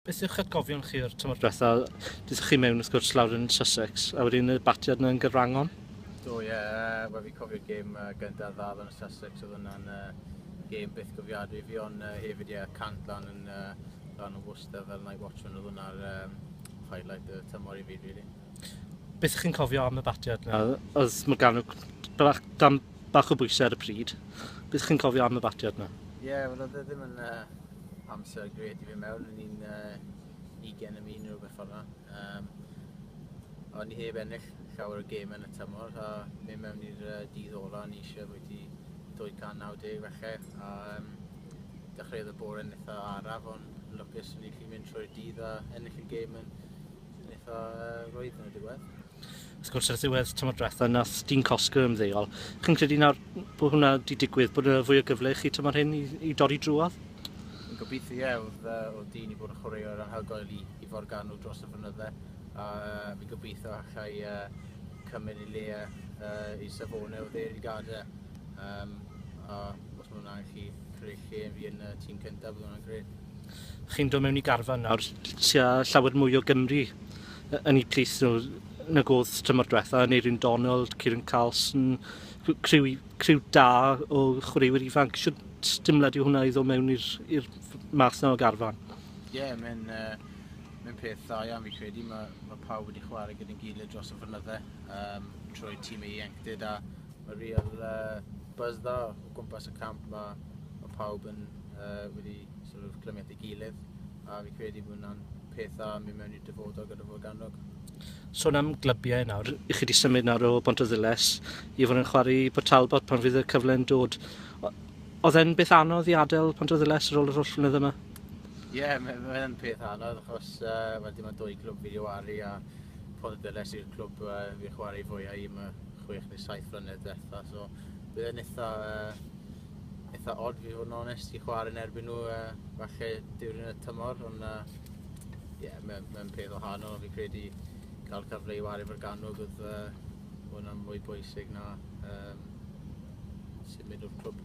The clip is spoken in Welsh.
Beth yw'ch atgofion chi o'r tymor diwetha'? Dethon chi mewn wrth gwrs lawr yn Sussex a wedyn y batiad 'na yn Gaerwrangon. Do ie yy wel fi'n cofio'r gêm yy gynta' dda lan yn Sussex o'dd hwnna'n yy gêm byth cofiadwy i fi on' yy hefyd ie cant lan yn yy lan yn Worcester fel 'nai watch hwn o'dd hwnna'r yym highlight y tymor i fi rili. Beth chi'n cofio am y batiad? Oedd mae gan dan bach o bwysau ar y pryd. Beth chi'n cofio am y batiad yna? Ie, yeah, wel oedd e ddim yn uh, amser gred i fi mewn. O'n i'n uh, 20 am un rhywbeth fel yna. Um, o'n i heb ennill llawer o gêm yn y tymor a mynd mewn i'r uh, dydd ola o'n i eisiau bod i 290 felly a um, dechreuodd y bore yn eitha araf ond lwcus o'n i chi mynd trwy'r dydd a ennill y gêm yn Eitha rwydd yn y diwedd. Wrth gwrs, ar ddiwedd tymor diwetha, nath Dean Cosgrove ymddeol. Chi'n credu nawr bod hwnna wedi digwydd, bod yna fwy o gyfle i chi tymor hyn i, i dorri drwodd? Yn gobeithio, ie, oedd, oedd Dean i bod yn chwaraewr anhygoel i, i forganu dros y fynydde. A uh, fi'n gobeithio allai uh, cymryd i le uh, i Savone o ddeir i gadau. Um, a Os mae'n rhaid chi creu lle fi yn y tîm cyntaf, bydd hwnna'n gred. Chi'n dod mewn i garfan nawr, tua llawer mwy o Gymru yn eu plith nhw nag oedd tymor diwetha, Aneurin Donald, Kieran Carlson, criw, criw da o chwaraewyr ifanc. Siwt dimlad yw hwnna i ddod mewn i'r math na o garfan? Ie, yeah, mae'n uh, mae'n peth dda iawn fi credu. Mae, mae pawb wedi chwarae gyda'n gilydd dros y fynydde um, trwy tîm ei ieuenctid a mae real uh, buzz dda o gwmpas y camp ma, mae pawb yn uh, wedi sort of, clymu at ei gilydd a fi credu bod hwnna'n peth dda yn mynd mewn i'r dyfodol gyda Forgannwg. Sôn am glybiau nawr, i chi wedi symud nawr o Bont o Ddiles i fod yn chwarae Port Talbot pan fydd y cyfle yn dod. Oedd e'n beth anodd i adael Pont o Ddiles ar ôl yr holl flynedd yma? Ie, yeah, mae'n ma yn peth anodd achos uh, well, dim ond dwy clwb fi wedi waru a Pont o Ddiles yw'r clwb uh, fi chwarae fwyaf i. Mae chwech neu saith flynedd diwetha, so bydd e'n eitha, uh, eitha odd fi fod yn onest i chwarae yn erbyn nhw uh, falle diwrnod y tymor, ond uh, yeah, mae'n ma peth o hanol, fi credu cael cyfle i wario fo'r ganwg oedd uh, hwnna'n mwy bwysig na um, symud o'r clwb.